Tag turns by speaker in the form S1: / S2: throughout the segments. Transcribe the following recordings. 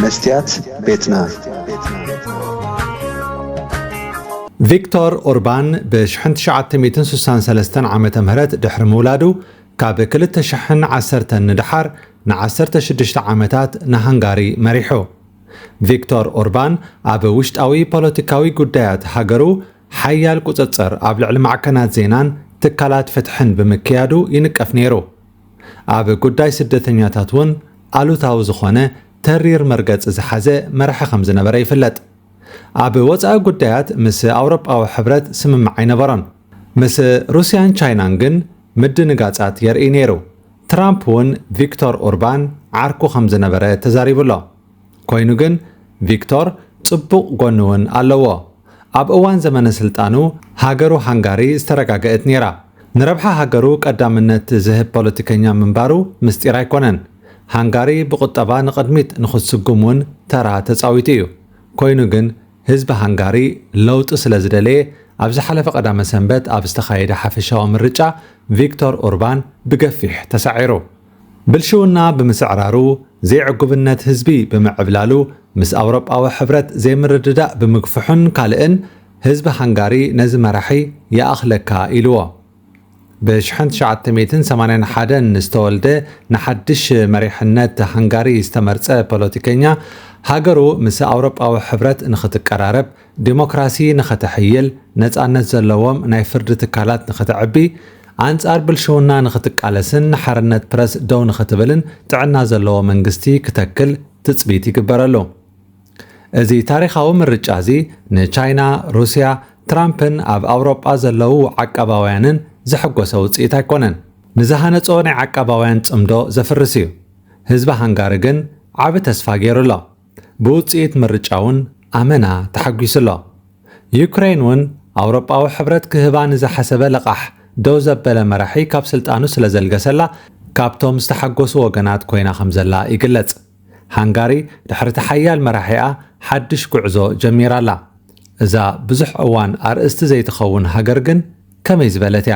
S1: መስትያት ቤትና። ቪክቶር ኦርባን ብ1963 ዓ ም ድሕሪ ምውላዱ ካብ 2010 ንደሓር ን16 ዓመታት ንሃንጋሪ መሪሑ። ቪክቶር ኦርባን ኣብ ውሽጣዊ ፖለቲካዊ ጉዳያት ሃገሩ ሓያል ቁጽጽር ኣብ ልዕሊ ማዕከናት ዜናን ትካላት ፍትሕን ብምክያዱ ይንቀፍ ነይሩ። ኣብ ጉዳይ ስደተኛታት እውን ኣሉታዊ ዝኾነ ተሪር መርገፂ ዝሓዘ መራሒ ከምዝነበረ ይፍለጥ። ኣብ ወፃኢ ጉዳያት ምስ ኣውሮጳዊ ሕብረት ስምምዕ ኣይነበሮን። ምስ ሩሲያን ቻይናን ግን ምድንጋፃት የርእይ ነይሩ። ትራምፕ እውን ቪክቶር ኡርባን ዓርኩ ከምዝነበረ ተዛሪቡ ኣሎ። ኮይኑ ግን ቪክቶር ጽቡቕ ጎኒ ውን ኣለዎ። ኣብ እዋን ዘመነ ስልጣኑ ሃገሩ ሃንጋሪ ዝተረጋገእት ኔራ። ንረብሓ ሃገሩ ቀዳምነት ዝህብ ፖለቲከኛ ምንባሩ ምስጢር ኣይኮነን። ሃንጋሪ ብቑጠባ ንቕድሚት ንኽትስጉም ውን ተራ ተጻዊቱ እዩ። ኮይኑ ግን ህዝቢ ሃንጋሪ ለውጢ ስለ ዝደለየ ኣብ ዝሓለፈ ቀዳመ ሰንበት ኣብ ዝተኻየደ ሓፈሻዊ ምርጫ ቪክቶር ኡርባን ብገፊሕ ተሳዒሩ። ብልሽውና ብምስዕራሩ፣ ዘይዕጉብነት ህዝቢ ብምዕብላሉ፣ ምስ ኣውሮጳዊ ሕብረት ዘይምርድዳእ ብምግፍሑን ካልእን፣ ህዝቢ ሃንጋሪ ነዚ መራሒ ይኣኽለካ ኢልዎ። ብ ሽሕን ትሽዓተ ሚእትን ሰማንያን ሓደን ዝተወልደ ንሓድሽ መሪሕነት ሃንጋሪ ዝተመርጸ ፖለቲከኛ፣ ሃገሩ ምስ ኣውሮጳዊ ሕብረት ንኽትቀራረብ፣ ዴሞክራሲ ንኸተሕይል፣ ነፃነት ዘለዎም ናይ ፍርዲ ትካላት ንኸተዕቢ፣ ኣንፃር ብልሽውና ንኽትቃለስን ንሓርነት ፕረስ ደው ንኽትብልን ጥዕና ዘለዎ መንግስቲ ክተክል ትፅቢት ይግበረሉ። እዚ ታሪኻዊ ምርጫ እዚ ንቻይና፣ ሩስያ፣ ትራምፕን ኣብ ኣውሮጳ ዘለዉ ዓቃባውያንን ዘሕጎሰ ውፅኢት ኣይኮነን። ንዝሃነፆ ናይ ዓቃባውያን ፅምዶ ዘፍርስ እዩ። ህዝቢ ሃንጋሪ ግን ዓቢ ተስፋ ገይሩ ኣሎ። ብውጽኢት ምርጫ'ውን ኣመና ተሓጒሱ'ሎ። ዩክረይን'ውን ኣውሮጳዊ ሕብረት ክህባ ንዝሓሰበ ለቓሕ ደው ዘበለ መራሒ ካብ ስልጣኑ ስለዘልገሰላ ካብቶም ዝተሓጎሱ ወገናት ኮይና ከምዘላ ይግለጽ። ሃንጋሪ ድሕሪ'ቲ ሓያል መራሒኣ ሓድሽ ጉዕዞ ጀሚራ'ላ። እዛ ብዙሕ እዋን ኣርእስቲ ዘይትኸውን ሃገር ግን ከመይ ዝበለት'ያ?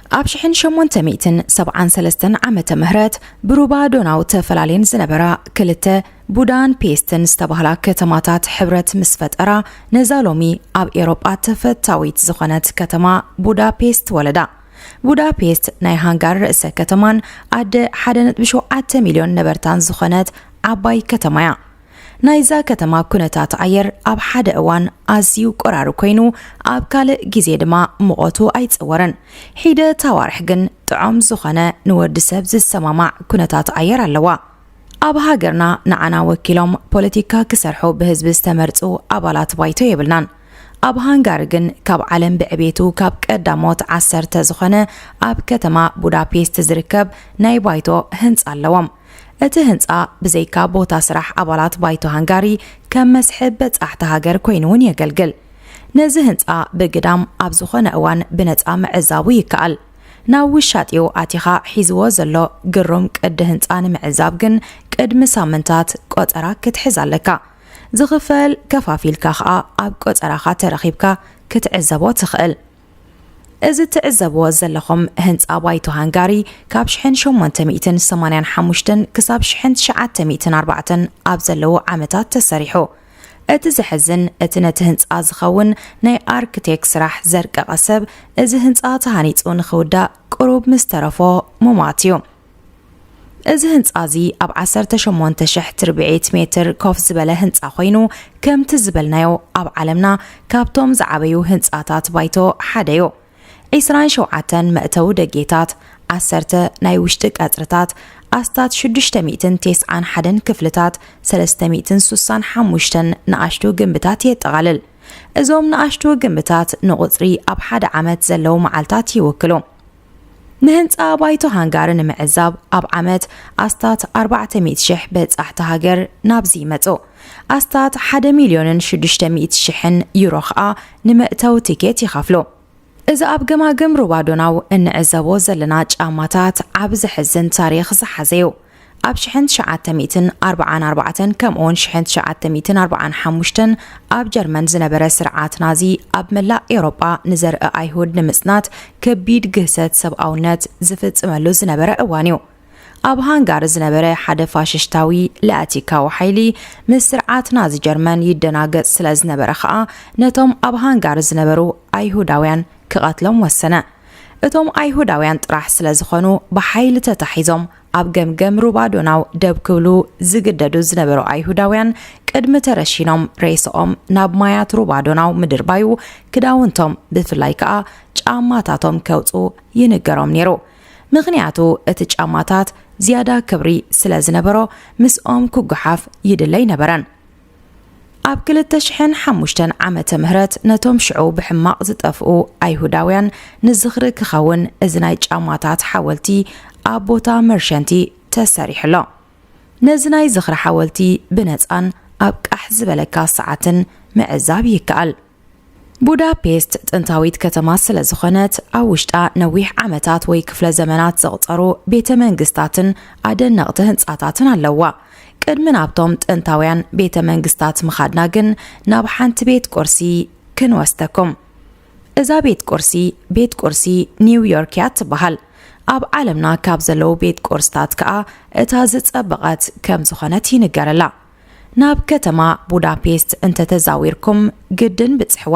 S2: ኣብ ሽሕን ሸሞንተ ሚእትን ሰብዓን ሰለስተን ዓመተ ምህረት ብሩባ ዶናው ተፈላልየን ዝነበራ ክልተ ቡዳን ፔስትን ዝተባህላ ከተማታት ሕብረት ምስ ፈጠራ ነዛ ሎሚ ኣብ ኤሮጳ ተፈታዊት ዝኾነት ከተማ ቡዳፔስት ወለዳ። ቡዳፔስት ናይ ሃንጋሪ ርእሰ ከተማን ኣደ 1.7 ሚልዮን ነበርታን ዝኾነት ዓባይ ከተማ እያ። ናይዛ ከተማ ኩነታት ኣየር ኣብ ሓደ እዋን ኣዝዩ ቆራሪ ኮይኑ ኣብ ካልእ ግዜ ድማ ሙቐቱ ኣይጸወርን። ሒደት ኣዋርሕ ግን ጥዖም ዝኾነ ንወዲ ሰብ ዝሰማማዕ ኩነታት ኣየር ኣለዋ። ኣብ ሃገርና ንዓና ወኪሎም ፖለቲካ ክሰርሑ ብህዝቢ ዝተመርጹ ኣባላት ባይቶ የብልናን። ኣብ ሃንጋሪ ግን ካብ ዓለም ብዕቤቱ ካብ ቀዳሞት ዓሰርተ ዝኾነ ኣብ ከተማ ቡዳፔስት ዝርከብ ናይ ባይቶ ህንጻ ኣለዎም። እቲ ህንጻ ብዘይካ ቦታ ስራሕ ኣባላት ባይቶ ሃንጋሪ ከም መስሕብ በጻሕቲ ሃገር ኮይኑ'ውን የገልግል። ነዚ ህንጻ ብግዳም ኣብ ዝኾነ እዋን ብነጻ ምዕዛቡ ይከኣል። ናብ ውሻጢኡ ኣቲኻ ሒዝዎ ዘሎ ግሩም ቅዲ ህንጻ ንምዕዛብ ግን ቅድሚ ሳምንታት ቆጸራ ክትሕዝ ኣለካ። ዝኽፈል ከፋፊልካ ከኣ ኣብ ቆጸራኻ ተረኺብካ ክትዕዘቦ ትኽእል። እዚ ትዕዘብዎ ዘለኹም ህንጻ ባይቶ ሃንጋሪ ካብ ሽሕን ሸሞንተ ሚእትን ሰማንያን ሓሙሽተን ክሳብ ሽሕን ትሽዓተ ሚእትን ኣርባዕተን ኣብ ዘለዉ ዓመታት ተሰሪሑ። እቲ ዘሕዝን እቲ ነቲ ህንጻ ዝኸውን ናይ ኣርክቴክ ስራሕ ዘርቀቐ ሰብ እዚ ህንጻ ተሃኒጹ ንኽውዳእ ቅሩብ ምስ ተረፎ ሙማት እዩ። እዚ ህንፃ እዚ ኣብ ዓሰርተ ሸሞንተ ሽሕ ትርብዒት ሜትር ኮፍ ዝበለ ህንፃ ኮይኑ ከምቲ ዝበልናዮ ኣብ ዓለምና ካብቶም ዝዓበዩ ህንፃታት ባይቶ ሓደ እዩ። ዒስራን ሸውዓተን መእተዊ ደጌታት፣ ዓሰርተ ናይ ውሽጢ ቀፅርታት፣ ኣስታት ሽዱሽተ ሚእትን ቴስዓን ሓደን ክፍልታት፣ ሰለስተ ሚእትን ሱሳን ሓሙሽተን ንኣሽቱ ግምብታት የጠቓልል። እዞም ንኣሽቱ ግምብታት ንቑፅሪ ኣብ ሓደ ዓመት ዘለዉ መዓልታት ይውክሉ። ንህንጻ ባይቶ ሃንጋሪ ንምዕዛብ ኣብ ዓመት ኣስታት ኣርባዕተ ሚእቲ ሽሕ በጻሕቲ ሃገር ናብዚ ይመጹ። ኣስታት ሓደ ሚልዮንን ሽዱሽተ ሚእቲ ሽሕን ዩሮ ኸኣ ንመእተዊ ቲኬት ይኸፍሉ። እዚ ኣብ ገማግም ሩባ ዶናው እንዕዘቦ ዘለና ጫማታት ዓቢ ዘሕዝን ታሪኽ ዝሓዘ'ዩ። ኣብ ሽሕን ትሽዓተ ሚእትን ኣርብዓን ኣርባዕተን ከምኡውን ሽሕን ትሽዓተ ሚእትን ኣርብዓን ሓሙሽተን ኣብ ጀርመን ዝነበረ ስርዓት ናዚ ኣብ መላእ ኤውሮጳ ንዘርኢ ኣይሁድ ንምጽናት ከቢድ ግህሰት ሰብኣውነት ዝፍጽመሉ ዝነበረ እዋን እዩ። ኣብ ሃንጋሪ ዝነበረ ሓደ ፋሽሽታዊ ላቲካዊ ሓይሊ ምስ ስርዓት ናዚ ጀርመን ይደናገጽ ስለ ዝነበረ ኸኣ ነቶም ኣብ ሃንጋሪ ዝነበሩ ኣይሁዳውያን ክቐትሎም ወሰነ። እቶም ኣይሁዳውያን ጥራሕ ስለ ዝኾኑ ብሓይሊ ተታሒዞም ኣብ ገምገም ሩባ ዶናው ደብ ክብሉ ዝግደዱ ዝነበሩ ኣይሁዳውያን ቅድሚ ተረሺኖም ሬስኦም ናብ ማያት ሩባ ዶናው ምድርባዩ ክዳውንቶም ብፍላይ ከኣ ጫማታቶም ከውፁ ይንገሮም ነይሩ ምኽንያቱ እቲ ጫማታት ዝያዳ ክብሪ ስለ ዝነበሮ ምስኦም ክጓሓፍ ይድለይ ነበረን ኣብ ክልተ ሽሕን ሓሙሽተን ዓመተ ምህረት ነቶም ሽዑ ብሕማቕ ዝጠፍኡ ኣይሁዳውያን ንዝኽሪ ክኸውን እዚ ናይ ጫማታት ሓወልቲ ኣብ ቦታ መርሸንቲ ተሰሪሑ ኣሎ ነዚ ናይ ዝኽሪ ሓወልቲ ብነፃን ኣብ ቃሕ ዝበለካ ሰዓትን ምዕዛብ ይከኣል ቡዳፔስት ጥንታዊት ከተማ ስለ ዝኾነት ኣብ ውሽጣ ነዊሕ ዓመታት ወይ ክፍለ ዘመናት ዘቕጸሩ ቤተ መንግስታትን ኣደነቕቲ ህንጻታትን ኣለዋ። ቅድሚ ናብቶም ጥንታውያን ቤተ መንግስታት ምኻድና ግን ናብ ሓንቲ ቤት ቁርሲ ክንወስደኩም። እዛ ቤት ቁርሲ ቤት ቁርሲ ኒውዮርክ እያ ትበሃል። ኣብ ዓለምና ካብ ዘለዉ ቤት ቁርስታት ከኣ እታ ዝጸበቐት ከም ዝኾነት ይንገረላ። ናብ ከተማ ቡዳፔስት እንተ ተዛዊርኩም ግድን ብጽሕዋ።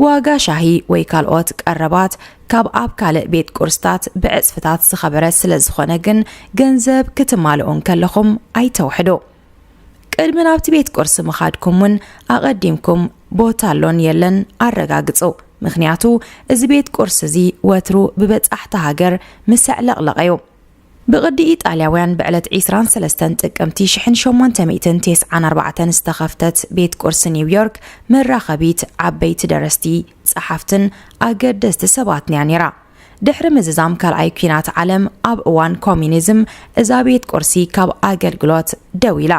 S2: ዋጋ ሻሂ ወይ ካልኦት ቀረባት ካብ ኣብ ካልእ ቤት ቁርስታት ብዕጽፍታት ዝኸበረ ስለ ዝኾነ ግን ገንዘብ ክትማልኡ እንከለኹም ኣይተውሕዱ። ቅድሚ ናብቲ ቤት ቁርሲ ምኻድኩም እውን ኣቐዲምኩም ቦታ ኣሎን የለን ኣረጋግጹ፣ ምኽንያቱ እዚ ቤት ቁርሲ እዚ ወትሩ ብበጻሕቲ ሃገር ምሰዕለቕለቐ እዩ። ብቕዲ ኢጣልያውያን ብዕለት ዒስራን ሰለስተን ጥቅምቲ ሽሕን ሸሞንተ ሚእትን ቴስዓን ኣርባዕተን ዝተኸፍተት ቤት ቁርሲ ኒው ዮርክ መራኸቢት ዓበይቲ ደረስቲ፣ ጸሓፍትን ኣገደስቲ ሰባትን'ያ ነይራ። ድሕሪ ምዝዛም ካልኣይ ኲናት ዓለም ኣብ እዋን ኮሚኒዝም እዛ ቤት ቁርሲ ካብ ኣገልግሎት ደው ኢላ።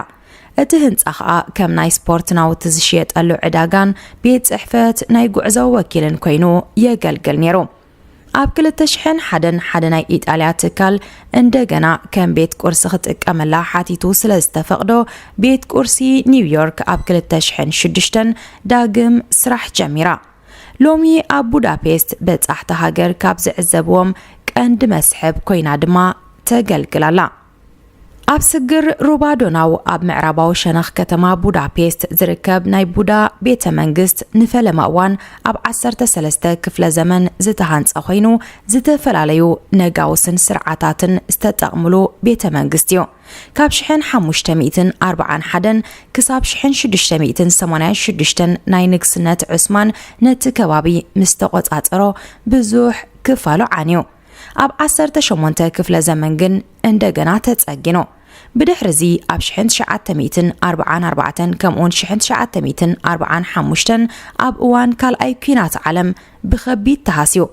S2: እቲ ህንጻ ከኣ ከም ናይ ስፖርት ናውቲ ዝሽየጠሉ ዕዳጋን ቤት ጽሕፈት ናይ ጉዕዞ ወኪልን ኰይኑ የገልግል ነይሩ። ኣብ 2001 ሓደ ናይ ኢጣልያ ትካል እንደገና ከም ቤት ቁርሲ ክጥቀመላ ሓቲቱ ስለ ዝተፈቕዶ ቤት ቁርሲ ኒውዮርክ ኣብ 2006 ዳግም ስራሕ ጀሚራ ሎሚ ኣብ ቡዳፔስት በጻሕቲ ሃገር ካብ ዝዕዘብዎም ቀንዲ መስሕብ ኮይና ድማ ተገልግላላ ኣብ ስግር ሩባ ዶናው ኣብ ምዕራባዊ ሸነኽ ከተማ ቡዳፔስት ዝርከብ ናይ ቡዳ ቤተ መንግስት ንፈለማ እዋን ኣብ 13 ክፍለ ዘመን ዝተሃንጸ ኮይኑ ዝተፈላለዩ ነጋውስን ስርዓታትን ዝተጠቕምሉ ቤተ መንግስት እዩ። ካብ ሽሕን ሓሙሽተ ሚእትን ኣርብዓን ሓደን ክሳብ ሽሕን ሽዱሽተ ሚእትን ሰማንያን ሽዱሽተን ናይ ንግስነት ዑስማን ነቲ ከባቢ ምስ ተቖጻጸሮ ብዙሕ ክፋሉ ዓንዩ። ኣብ ዓሰርተ ሸሞንተ ክፍለ ዘመን ግን እንደገና ተጸጊኑ። ብድሕሪ እዚ ኣብ ሽሕን ትሽዓተ ሚእትን ኣርብዓን ኣርባዕተን ከምኡውን ሽሕን ትሽዓተ ሚእትን ኣርብዓን ሓሙሽተን ኣብ እዋን ካልኣይ ኲናት ዓለም ብኸቢድ ተሃስዩ።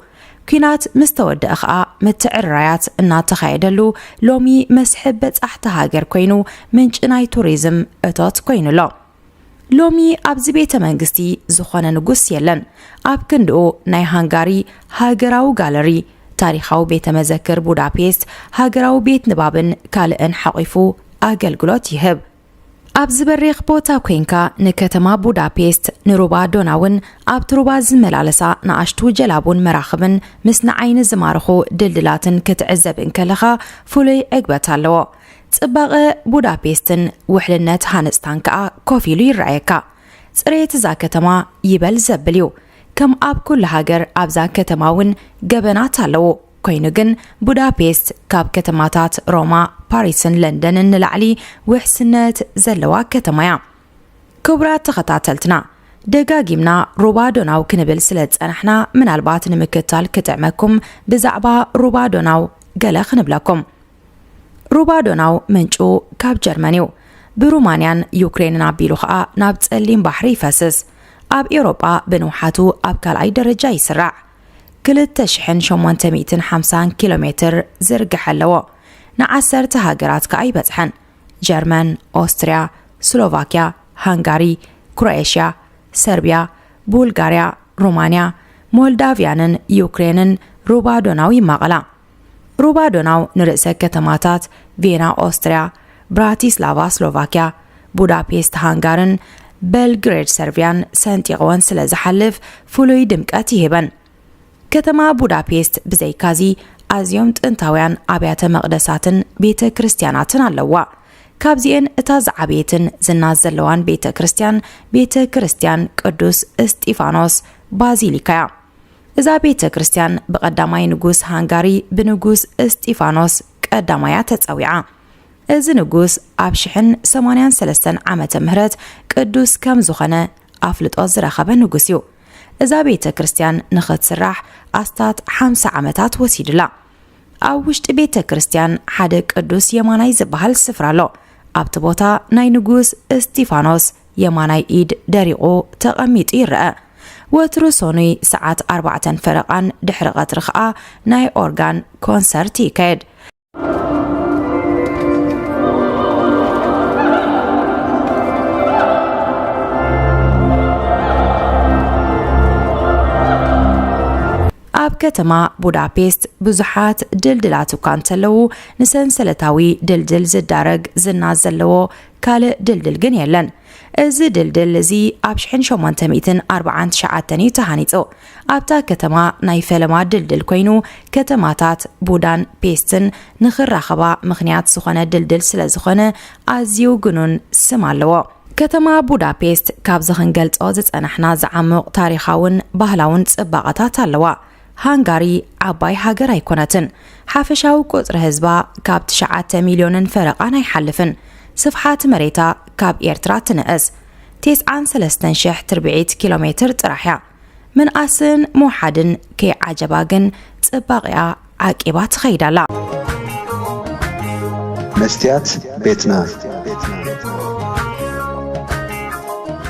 S2: ኲናት ምስ ተወደኣ ኸኣ ምትዕርራያት እናተኻየደሉ ሎሚ መስሕብ በጻሕቲ ሃገር ኰይኑ ምንጪ ናይ ቱሪዝም እቶት ኰይኑ ኣሎ። ሎሚ ኣብዚ ቤተ መንግስቲ ዝኾነ ንጉስ የለን። ኣብ ክንድኡ ናይ ሃንጋሪ ሃገራዊ ጋለሪ፣ ታሪኻዊ ቤተ መዘክር ቡዳፔስት፣ ሃገራዊ ቤት ንባብን ካልእን ሓቚፉ ኣገልግሎት ይህብ። ኣብዚ በሪኽ ቦታ ኮይንካ ንከተማ ቡዳፔስት፣ ንሩባ ዶናውን ኣብቲ ሩባ ዝመላለሳ ንኣሽቱ ጀላቡን መራኽብን ምስ ንዓይኒ ዝማርኹ ድልድላትን ክትዕዘብ እንከለኻ ፍሉይ ዕግበት ኣለዎ። ጽባቐ ቡዳፔስትን ውሕልነት ሃነጽታን ከኣ ኮፍ ኢሉ ይረኣየካ። ጽሬት እዛ ከተማ ይበል ዘብል እዩ። ከም ኣብ ኩሉ ሃገር ኣብዛ ከተማ እውን ገበናት ኣለዉ። ኮይኑ ግን ቡዳፔስት ካብ ከተማታት ሮማ፣ ፓሪስን ለንደንን ንላዕሊ ውሕስነት ዘለዋ ከተማ እያ። ክቡራት ተኸታተልትና ደጋጊምና ሩባ ዶናው ክንብል ስለ ዝጸናሕና ምናልባት ንምክታል ክጥዕመኩም ብዛዕባ ሩባ ዶናው ገለ ክንብለኩም። ሩባ ዶናው ምንጩ ካብ ጀርመን እዩ። ብሩማንያን ዩክሬንን ኣቢሉ ኸኣ ናብ ጸሊም ባሕሪ ይፈስስ። ኣብ ኤውሮጳ ብንውሓቱ ኣብ ካልኣይ ደረጃ ይስራዕ። 2850 ኪሎ ሜትር ዝርግሐ ኣለዎ። ንዓሰርተ ሃገራት ከኣ ይበጽሐን። ጀርመን፣ ኦስትርያ፣ ስሎቫክያ፣ ሃንጋሪ፣ ክሮኤሽያ፣ ሰርቢያ፣ ቡልጋርያ፣ ሩማንያ፣ ሞልዳቭያንን ዩክሬንን ሩባ ዶናው ይማቐላ። ሩባ ዶናው ንርእሰ ከተማታት ቬና ኦስትርያ፣ ብራቲስላቫ ስሎቫክያ፣ ቡዳፔስት ሃንጋርን በልግሬድ ሰርብያን ሰንጢቕወን ስለ ዝሓልፍ ፍሉይ ድምቀት ይህበን። ከተማ ቡዳፔስት ብዘይካዚ ኣዝዮም ጥንታውያን ኣብያተ መቕደሳትን ቤተ ክርስቲያናትን ኣለዋ። ካብዚኤን እታ ዝዓበየትን ዝና ዘለዋን ቤተ ክርስቲያን ቤተ ክርስቲያን ቅዱስ እስጢፋኖስ ባዚሊካ እያ። እዛ ቤተ ክርስቲያን ብቐዳማይ ንጉስ ሃንጋሪ ብንጉስ እስጢፋኖስ ቀዳማይ እያ ተጸዊዓ። እዚ ንጉስ ኣብ ሽሕን ሰማንያን ሰለስተን ዓመተ ምህረት ቅዱስ ከም ዝኾነ ኣፍልጦ ዝረኸበ ንጉስ እዩ። እዛ ቤተ ክርስቲያን ንኽትስራሕ ኣስታት ሓምሳ ዓመታት ወሲድላ። ኣብ ውሽጢ ቤተ ክርስቲያን ሓደ ቅዱስ የማናይ ዝበሃል ስፍራ ኣሎ። ኣብቲ ቦታ ናይ ንጉስ እስጢፋኖስ የማናይ ኢድ ደሪቑ ተቐሚጡ ይረኣ። ወትሩ ሰኑይ ሰዓት ኣርባዕተን ፈረቓን ድሕሪ ቐትሪ ከኣ ናይ ኦርጋን ኮንሰርት ይካየድ። ኣብ ከተማ ቡዳፔስት ብዙሓት ድልድላት እኳ እንተለዉ ንሰንሰለታዊ ድልድል ዝዳረግ ዝና ዘለዎ ካልእ ድልድል ግን የለን። እዚ ድልድል እዚ ኣብ ሽሕን ሸሞንተ ሚእትን ኣርብዓን ትሽዓተን እዩ ተሃኒጹ። ኣብታ ከተማ ናይ ፈለማ ድልድል ኮይኑ ከተማታት ቡዳን ፔስትን ንኽራኸባ ምኽንያት ዝኾነ ድልድል ስለ ዝኾነ ኣዝዩ ግኑን ስም ኣለዎ። ከተማ ቡዳፔስት ካብዚ ክንገልጾ ዝጸናሕና ዝዓሙቕ ታሪኻውን ባህላውን ጽባቐታት ኣለዋ። ሃንጋሪ ዓባይ ሃገር ኣይኮነትን። ሓፈሻዊ ቁጽሪ ህዝባ ካብ ትሽዓተ ሚልዮንን ፈረቓን ኣይሓልፍን። ስፍሓት መሬታ ካብ ኤርትራ ትንእስ። ቴስዓን ሰለስተን ሽሕ ትርብዒት ኪሎ ሜትር ጥራሕ እያ። ምንኣስን ምውሓድን ከይዓጀባ ግን ጽባቒኣ ዓቂባ ትኸይድ ኣላ።
S3: መስትያት ቤትና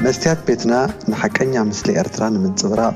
S3: መስትያት ቤትና ንሓቀኛ ምስሊ ኤርትራ ንምንጽብራቕ